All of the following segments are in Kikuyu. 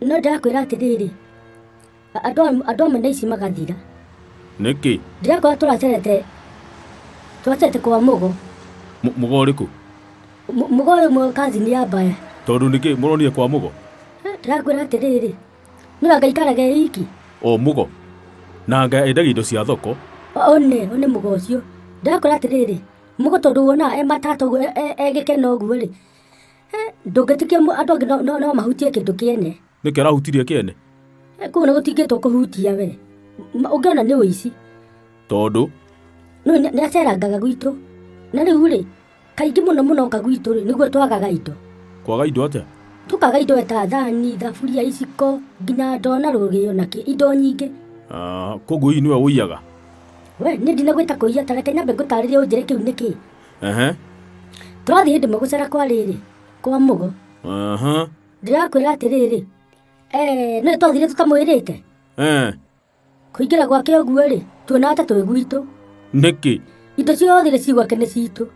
no ndĩrakwĩra atĩrĩrĩ a- andũ a- andũ amwe na ici magathira nĩkĩ ndĩrakorwo tũracerete tũracerete kwa mũgo Mũ- mũgo ũrĩkũ Mũ- mũgo ũyũ mwe kazini ya mbaya tondũ nĩkĩ mũronire kwa mũgo ndĩrakwĩra atĩrĩrĩ nĩra ngaikarage iki o mũgo na anga endagia indo cia thoko one one mũgo ũcio ndĩrakwĩra atĩrĩrĩ mũgo tondũ wonaga e matata ũguo e- e- egĩkena ũguo rĩ ndũngĩtĩkia mũ- andũ angĩ no- no no mahutie kĩndũ kĩene nĩkĩ arahutirie kĩene Eh, kũu nĩ gũtingĩtwo kũhutia we Ma- ũngĩona nĩ ũici tondũ no nĩ nĩ acerangaga gwitũ na rĩu rĩ kaingĩ mũno mũno oka gwitũ rĩ nĩguo twagaga indo kwaga indo atĩa tũkaga indo ta thani thaburia iciko nginya ndoo na rũgĩo na kĩ indo nyingĩ Ah, koguo hihi nĩwe ũiyaga we nĩ ndinagwĩta kũiya ta reke nyambe ngũtarĩria ũnjĩre kĩu nĩ kĩ Ehe. twathiĩ ndĩmwe gũcera kwa rĩrĩ kwa mũgo Aha. ndĩrakwĩra atĩrĩrĩ "Eh, nĩ twathire tũtamwĩrĩte Eh. kũingĩra gwake ũguo-rĩ tuona ata twĩ gwitũ Nĩkĩ? indo ciothe iria cigwake nĩ citũ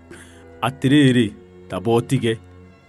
Atĩrĩrĩ, tamba ũtige.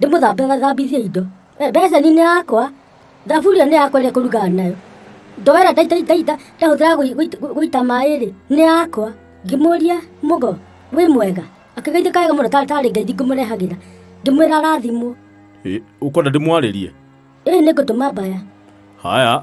ndĩmũthambe gathambithie indo Eh, beceni nĩ yakwa thaburi ĩyo nĩ yakwa ĩrĩa kũrugaga nayo ndo ĩrĩa ndaita- ndaita- ndaita- ndahũthĩra gũi- gũita- gũ- gũita maĩ-rĩ nĩ yakwa ngĩmũria mũgo wĩ mwega akĩgeithĩka wega mũno ta- tarĩ ngeithi ngũmũrehagĩra ngĩmwĩra arathimwo Ĩ, ũkwenda ndĩmwarĩrie ĩĩ nĩ ngũtũma mbaya haya